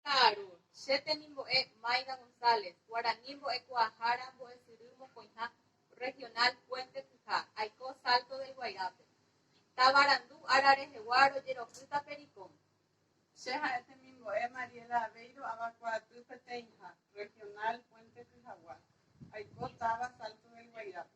Ka'aru, Che temimbo'e Maida González, Guarani Mbo'ekuaahára Mbo'esyry Mokõiha Regional Puente Pyha, aiko Salto del Guairápe. Tavarandu ára rehegua rojerohýta Pericón. Che ha'e temimbo'e Mariela Aveiro Avakuaaty Peteĩha Regional Puente Pyhagua, aiko táva Salto del Guairápe.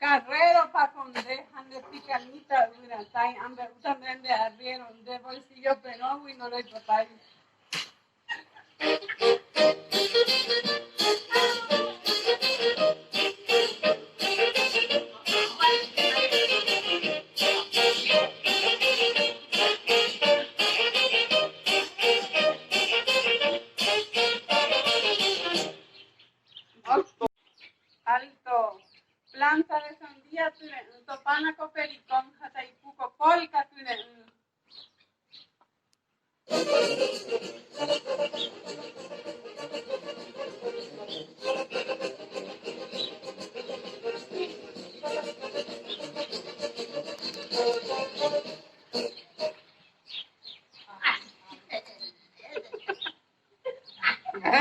Carrero Paconde ha nde Picanita yvyratãi ambe'úta nde nde arriero nde bolsillo perõgui ndoroipotái. Alto! Planza de sandía tyre'ỹ topána ko pericón ha taipu ko polka tyre'ỹ.